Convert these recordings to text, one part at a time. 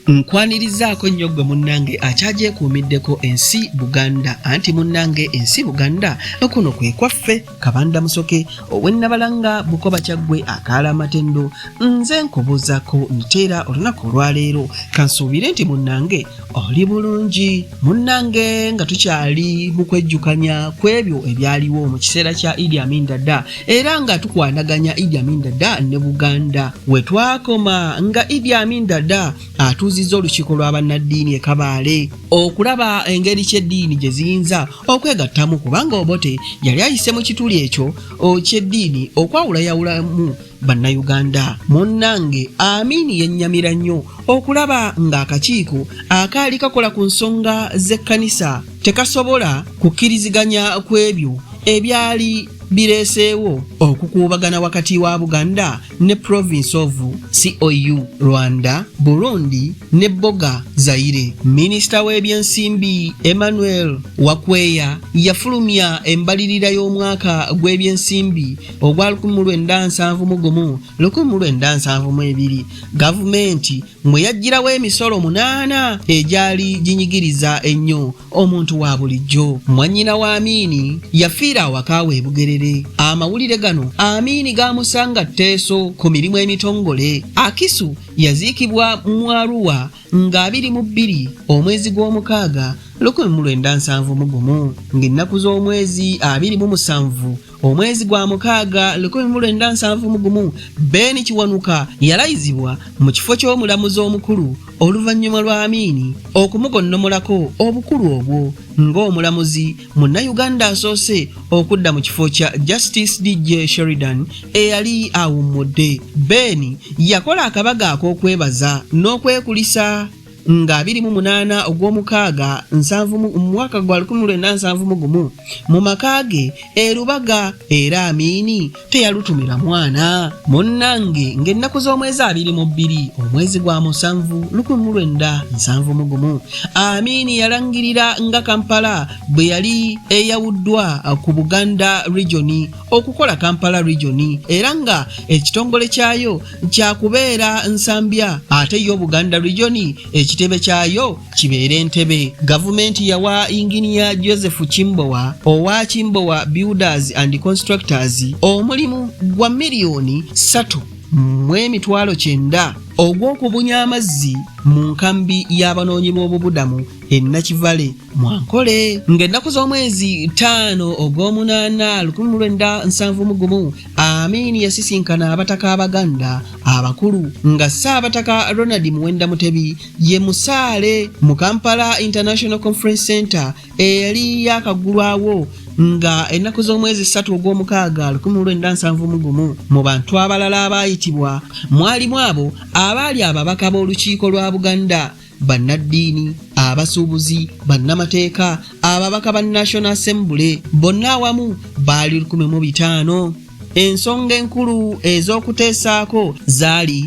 Nkwanirizaako nnyo gwe munnange akyagyekuumiddeko ensi Buganda anti munnange ensi Buganda okuno kwe kwaffe kabanda musoke ow'ennabalanga bukoba kyaggwe akaala amatendo nze nkubuuzaako nteera olunaku olwaleero kansuubire nti munnange oli bulungi munnange nga tukyali mu kwejjukanya ku ebyo ebyaliwo mu kiseera kya idi amin dada era nga tukwanaganya idi amin dada ne buganda we twakoma nga idi amin dada atuuzizza olukiiko lwa bannaddiini e kabaale okulaba engeri ky'eddiini gye ziyinza okwegattamu kubanga obote yali ayise mu kituli ekyo ky'eddiini okwawulayawulamu bannayuganda munnange amin yennyamira nnyo okulaba ng'akakiiko akaali kakola ku nsonga z'ekkanisa tekasobola kukkiriziganya ku ebyo ebyali bireeseewo okukuubagana wakati wa buganda ne province of cou rwanda burundi ne boga zaire minisita w'ebyensimbi emmanuel wakweya yafulumya embalirira y'omwaka gw'ebyensimbi ogwa 1971 gavumenti mwe yaggyirawo emisolo munaana egyali ginyigiriza ennyo omuntu wa bulijjo mwannyina wa amiini yafiira awaka we bugerere amawulire gano amiini gaamusanga tteeso ku mirimu emitongole akisu yaziikibwa mu aruwa nga abiri mu bbiri omwezi gw'omukaaga 1971 ng'ennaku z'omwezi abiri mu musanvu omwezi gwa mukaaga 1971 Ben Kiwanuka yalayizibwa mu kifo ky'omulamuzi omukulu oluvannyuma lwa Amiini okumugonnomolako obukulu obwo ng'omulamuzi munnayuganda asoose okudda mu kifo kya Justice DJ Sheridan eyali awummudde. Ben yakola akabaga ak'okwebaza n'okwekulisa. nga biri mu munaana ogw'omukaaga nsanvu mu mwaka gwa lukumi lwenda nsanvu mu gumu mu maka ge e Lubaga era Amiini teyalutumira mwana munnange ng'ennaku z'omwezi abiri mu bbiri omwezi gwa musanvu lukumi mu lwenda nsanvu mu gumu Amiini yalangirira nga Kampala bwe yali eyawuddwa ku Buganda regioni okukola Kampala regioni era nga ekitongole kyayo kyakubeera Nsambya ate yo Buganda Region ekitebe kyayo kibeere Ntebe. Gavumenti yawa Yinginiya Joseph Kimbowa owa Kimbowa Builders and Constructors omulimu gwa miliyoni ssatu mu emitwalo kyenda ogw'okubunya amazzi mu nkambi y'abanoonyi b'obubudamu e Nakivale mwankole ng'ennaku z'omwezi ttaano ogw'omunaana lukumi mu lwenda nsanvu mu gumu amiini yasisinkana abataka abaganda abakulu nga ssaabataka ronald muwenda mutebi ye musaale mu kampala international conference center eyali yakaggulwawo nga ennaku z'omwezi ssatu ogw'omukaaga lukumi lwenda nsanvu mu gumu mu bantu abalala abaayitibwa mwalimu abo abaali ababaka b'olukiiko lwa buganda bannaddiini abasuubuzi bannamateeka ababaka ba national assembly bonna awamu baali 15 ensonga enkulu ez'okuteesaako zaali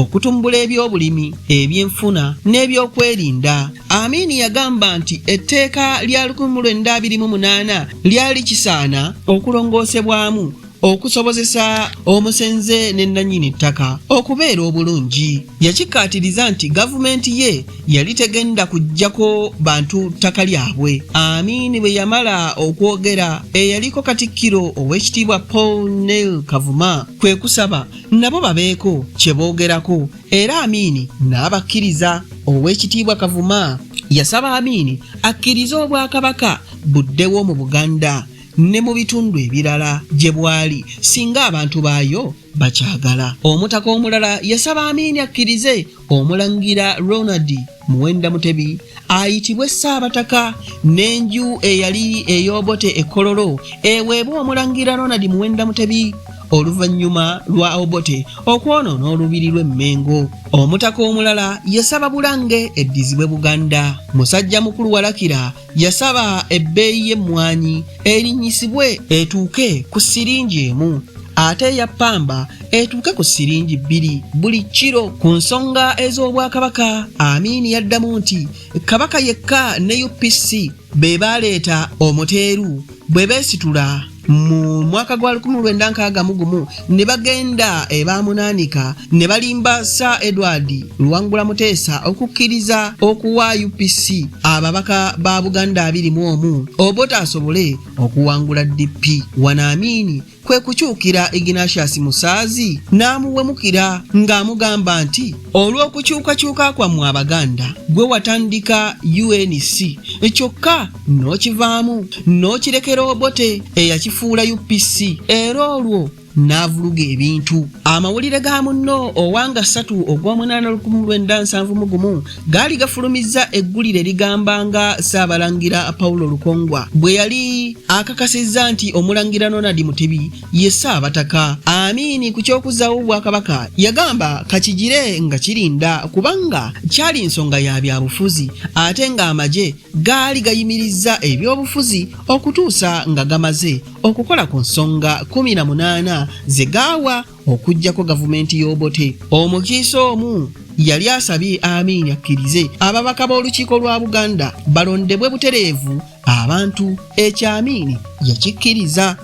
okutumbula ebyobulimi ebyenfuna n'ebyokwerinda amiini yagamba nti etteeka lya 1928 lyali kisaana okulongoosebwamu okusobozesa omusenze ne nnannyini ttaka okubeera obulungi yakikkaatiriza nti gavumenti ye yali tegenda kuggyako bantu ttaka lyabwe amiini bwe yamala okwogera eyaliko katikkiro ow'ekitiibwa paul nel kavuma kwe kusaba nabo babeeko kye boogerako era amiini n'abakkiriza ow'ekitiibwa kavuma yasaba amiini akkirize obwakabaka buddewo mu buganda ne mu bitundu ebirala gye bwali singa abantu baayo bakyagala. Omutaka omulala yasaba Amiini akkirize Omulangira Ronald Muwenda Mutebi ayitibwe Ssaabataka n'enju eyali ey'Obote e Kololo eweebwe Omulangira Ronald Muwenda Mutebi oluvannyuma lwa Obote okwonoona olubiri lw'e Mmengo. Omutaka omulala yasaba Bulange eddizibwe Buganda. Musajjamukulu Walakira Yasaba ebbeeyi y'emmwanyi erinnyisibwe etuuke ku siringi emu ate eya ppamba etuuke ku siringi bbiri buli kiro. Ku nsonga ez'Obwakabaka, Amin yaddamu nti Kabaka yekka ne UPC be baaleeta Omuteeru bwe beesitula. mu mwaka gwa 1961 ne bagenda ebamunaanika eh, ne balimba sir edward luwangula muteesa okukkiriza okuwa upc ababaka ba buganda 21 obota asobole okuwangula dp wanaamiini kwe kukyukira ignatius musaazi n'amuwemukira ng'amugamba nti olw'okukyukakyuka kwammwe abaganda gwe watandika unc kyokka n'okivaamu n'okirekera obote eyakifuula upc era olwo n'avuluga ebintu amawulire ga munno owanga ssatu ogw'omunaana lukumu lwenda nsanvu mu gumu gaali gafulumizza eggulire ligamba nga ssaabalangira pawulo lukongwa bwe yali akakasizza nti omulangira nonadi mutebi ye ssaabataka amiini ku ky'okuzzaawo obwakabaka yagamba kakigire nga kirinda kubanga kyali nsonga ya byabufuzi ate ng'amagye gaali gayimirizza ebyobufuzi okutuusa nga gamaze okukola ku nsonga 18 ze gaawa okuggyako gavumenti y'obote omukiise omu yali asabye amiini akkirize ababaka b'olukiiko lwa buganda balondebwe butereevu abantu ekyamiini yakikkiriza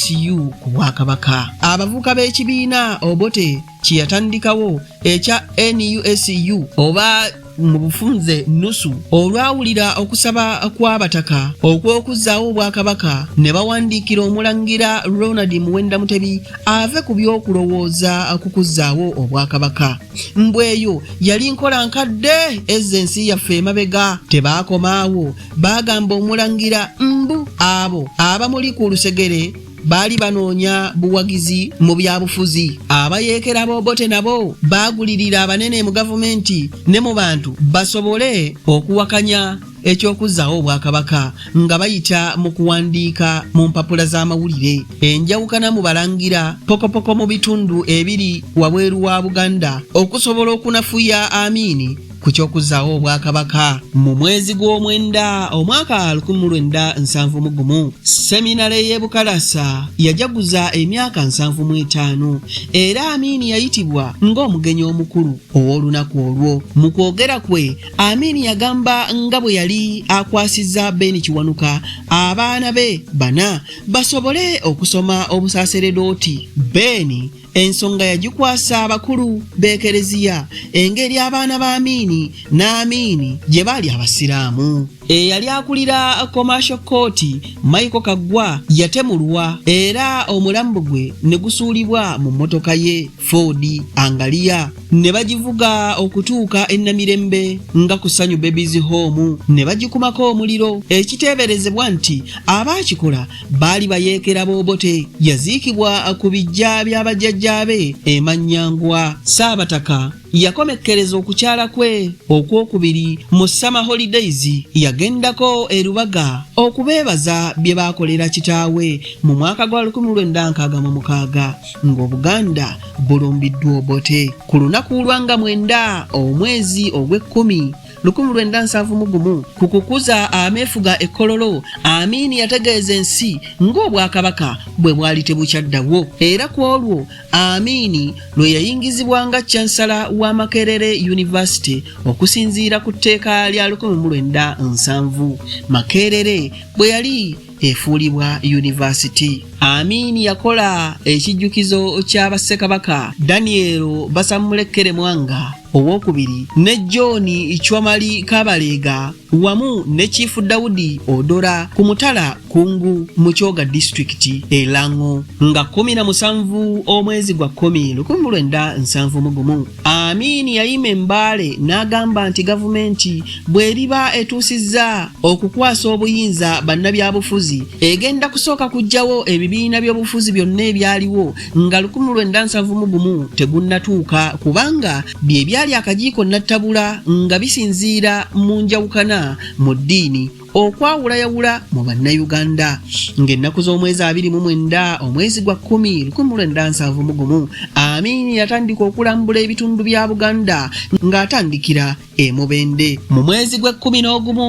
nusu ku bwakabaka abavuka b'ekibiina obote kyeyatandikawo ekya nusu oba mu bufunze nusu olwawulira okusaba kw'abataka okw'okuzzaawo obwakabaka ne bawandiikira omulangira ronald muwenda mutebi ave ku by'okulowooza ku kuzzaawo obwakabaka mbweyo yali nkola nkadde ezza ensi yaffe emabega tebaakomaawo baagamba omulangira mbu abo abamuli ku lusegere baali banoonya buwagizi mu byabufuzi abayeekera b'obote nabo baagulirira abanene mu gavumenti ne mu bantu basobole okuwakanya eky'okuzzaawo obwakabaka nga bayita mu kuwandiika mu mpapula z'amawulire enjawukana mu balangira pokopoko mu bitundu ebiri wabweru wa buganda okusobola okunafuya amiini ku ky'okuzzaawo obwakabaka mu mwezi gw'omwenda omwaka 1971 seminale y'e bukalasa yajaguza emyaka 75 era amiini yayitibwa ng'omugenyi omukulu ow'olunaku olwo mu kwogera kwe amiini yagamba nga bwe yali akwasizza beeni kiwanuka abaana be bana basobole okusoma obusaaseredooti beeni ensonga yagikwasa abakulu b'ekereziya engeri abaana ba amiini n'amiini gye baali abasiraamu eyali akulira commercial court michael kaggwa yatemulwa era omulambo gwe ne gusuulibwa mu mmotoka ye ford angaliya ne bagivuga okutuuka e namirembe nga ku sanyu babies home ne bagikumako omuliro ekiteeberezebwa nti abaakikola baali bayeekera boobote yaziikibwa ku bijja bya bajjajjaabe emanyangwa saabataka yakomekkereza okukyala kwe okwokubiri mu summer holidays yagendako erubaga okubeebaza bye baakolera kitaawe mu mwaka gwa 1966 ng'obuganda bulumbiddwa obote ku lunaku lwanga mwenda omwezi ogw'ekkumi lukumi lwenda nsanvu mu gumu ku kukuza ameefuga ekkololo amiini yategeeza ensi ng'obwakabaka bwe bwali tebukyaddawo era ku olwo amiini lwe yayingizibwa nga cansala wa makerere yunivasite okusinziira ku tteeka lya lukumi mu lwenda nsanvu makerere bwe yali efuulibwa yunivasiti. Amin yakola ekijjukizo kya Bassekabaka Daniel Basamulekkere Mwanga owokubiri ne John Chwamali Kabaleega wamu ne Chief Daudi Odora ku mutala Kungu mu Kyoga disitulikiti e Lang'o nga kkumi na musanvu omwezi gwa kkumi lukumi mu lwenda nsanvu mu gumu. Amin yayima embaale n'agamba nti gavumenti bw'eriba etuusizza okukwasa obuyinza bannabyabufuzi egenda kusooka kuggyawo ebibiina by'obufuzi byonna ebyaliwo nga 1991 tegunnatuuka kubanga bye byali akagiiko nattabula nga bisinziira mu njawukana mu ddiini okwawulayawula mu bannayuganda ng'ennaku z'omwezi abiri mu mwenda omwezi gwa kkumi lukumi mu lwenda nsanvu mu gumu amiini yatandika okulambula ebitundu bya buganda ng'atandikira e mubende mu mwezi gw'ekkumi n'ogumu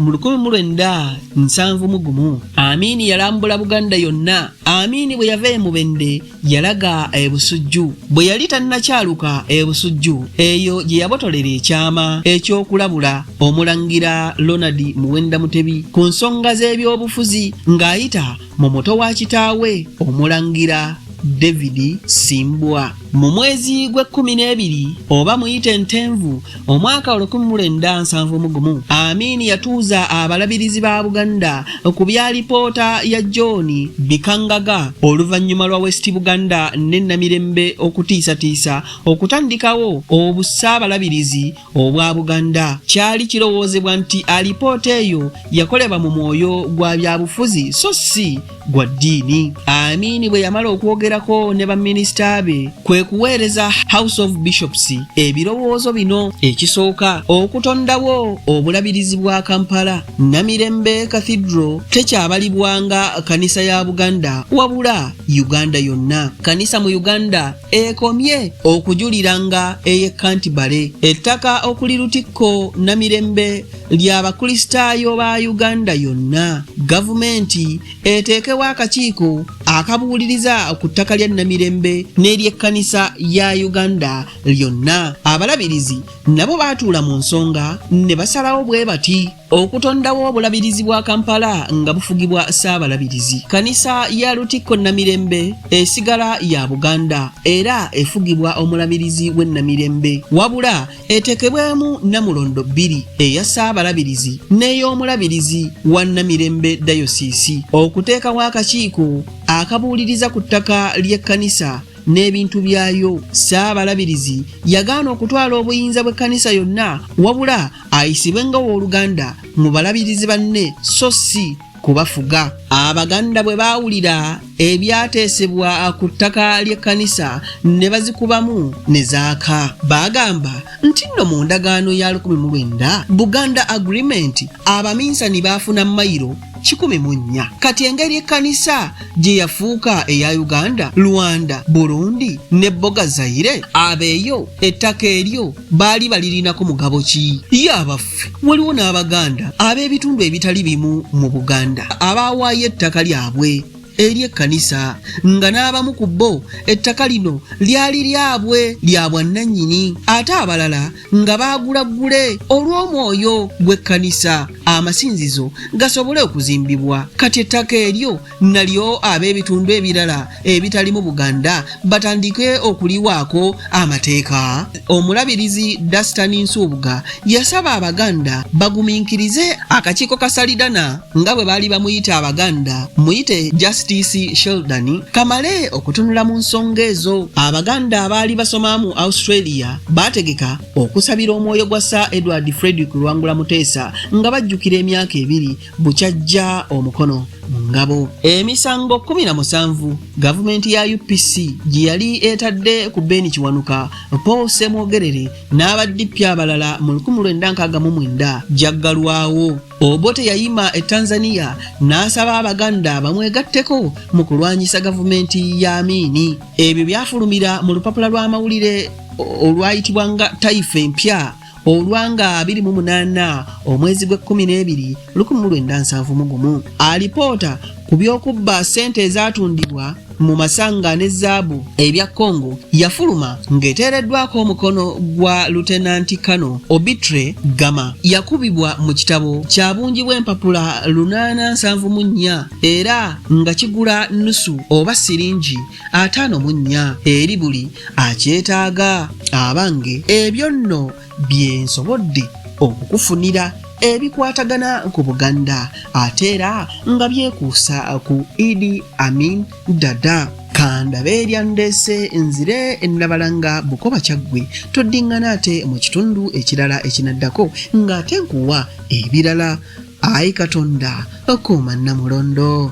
mu lukumi mu lwenda nsanvu mu gumu amiini yalambula buganda yonna amiini bwe yava e mubende yalaga e Busujju bwe yali tannakyaluka e Busujju eyo gye yabotolera ekyama eky'okulabula Omulangira Ronald Muwenda Mutebi ku nsonga z'ebyobufuzi ng'ayita mu muto wa kitaawe Omulangira David Simbwa mu mwezi gw'ekkumi n'ebiri oba muyite Ntenvu Omwaka olukumi mu lwenda nsanvu mu gumu Amin yatuuza abalabirizi ba Buganda ku bya lipoota ya John Bikangaga oluvannyuma lwa West Buganda ne Namirembe okutiisatiisa okutandikawo obussaabalabirizi obwa Buganda. Kyali kirowoozebwa nti alipoota eyo yakolebwa mu mwoyo gwa byabufuzi so si gwa ddiini amiini bwe yamala okwogerako ne baminisita be kwe kuweereza house of bishops ebirowoozo bino ekisooka okutondawo obulabirizi bwa kampala namirembe cathedral tekyabalibwanga kanisa ya buganda wabula uganda yonna kanisa mu uganda ekomye okujuliranga ey'ekantibale ettaka okuli lutikko namirembe lya bakristaayo ba uganda yonna gavumenti eteekewo akakiiko akabuuliriza ku ttaka lya namirembe n'eryekkanisa ya uganda lyonna abalabirizi nabo baatuula mu nsonga ne basalawo bwe bati okutondawo obulabirizi bwa kampala nga bufugibwa ssaabalabirizi kanisa ya lutikko namirembe esigala ya buganda era efugibwa omulabirizi w'e namirembe wabula etekebwemu namulondo bbiri eya ssaabalabirizi n'ey'omulabirizi wa namirembe dayosiisi okuteekawo akakiiko akabuuliriza ku ttaka ly'ekkanisa n'ebintu byayo ssaabalabirizi yagaana okutwala obuyinza bw'ekkanisa yonna wabula ayisibwe nga w'oluganda mu balabirizi banne so si kubafuga abaganda bwe baawulira ebyateesebwa ku ttaka ly'ekkanisa ne bazikubamu ne zaaka baagamba nti nno mu ndagaano ya 19 buganda agreement abaminsani baafuna mayiro kikumi mu nnya kati engeri ekkanisa gye yafuuka eya uganda rwanda burundi ne boga zaire abeeyo ettaka eryo baali balirinako mugabo ki yabafu baffe. Waliwo n'Abaganda ab'ebitundu ebitali bimu mu Buganda abaawaayo ettaka lyabwe eri ekkanisa nga n'abamu ku bo ettaka lino lyali lyabwe lya bwannannyini ate abalala nga baagula ggule olw'omwoyo gw'ekkanisa amasinzizo gasobole okuzimbibwa kati ettaka eryo nalyo ab'ebitundu ebirala ebitalimu buganda batandike okuliwaako amateeka omulabirizi dastan nsuubuga yasaba abaganda bagumiikirize akakiiko ka salidana nga bwe baali bamuyita abaganda muyite justice sheldan kamale okutunula mu nsonga ezo abaganda abaali basoma mu australia baategeka okusabira omwoyo gwa sir edward fredrick lwangula muteesa nga bajjukira emyaka ebiri bukyajja omukono mu ngabo. Emisango kkumi na musanvu gavumenti ya UPC gye yali etadde ku Ben Kiwanuka, Paul Ssemwogerere n'aba DP abalala mu lukumi lwenda nkaaga mu mwenda gyaggalwawo. Obote yayima e Tanzania n'asaba Abaganda bamwegatteko mu kulwanyisa gavumenti ya Amiini. Ebyo byafulumira mu lupapula lw'amawulire olwayitibwa nga Taifa Empya. olwa nga 28 omwezi gw'ekkumi n'ebiri 1971 alipoota ku by'okubba ssente ezatundibwa mu masanga ne zaabu ebya congo yafuluma ng'eteereddwako omukono gwa lutenanti kano obitre gama yakubibwa mu kitabo kya bungi bw'empapula 874 era nga kigula nusu oba siringi ataano mu nnya eri buli akyetaaga abange ebyo nno bye nsobodde okukufunira ebikwatagana ku buganda ate era nga byekuusa ku idi amin dada kandabe eryandese nzire nabalanga bukoba kyaggwe toddingana ate mu kitundu ekirala ekinaddako ng'ate nkuwa ebirala ayi katonda okuuma namulondo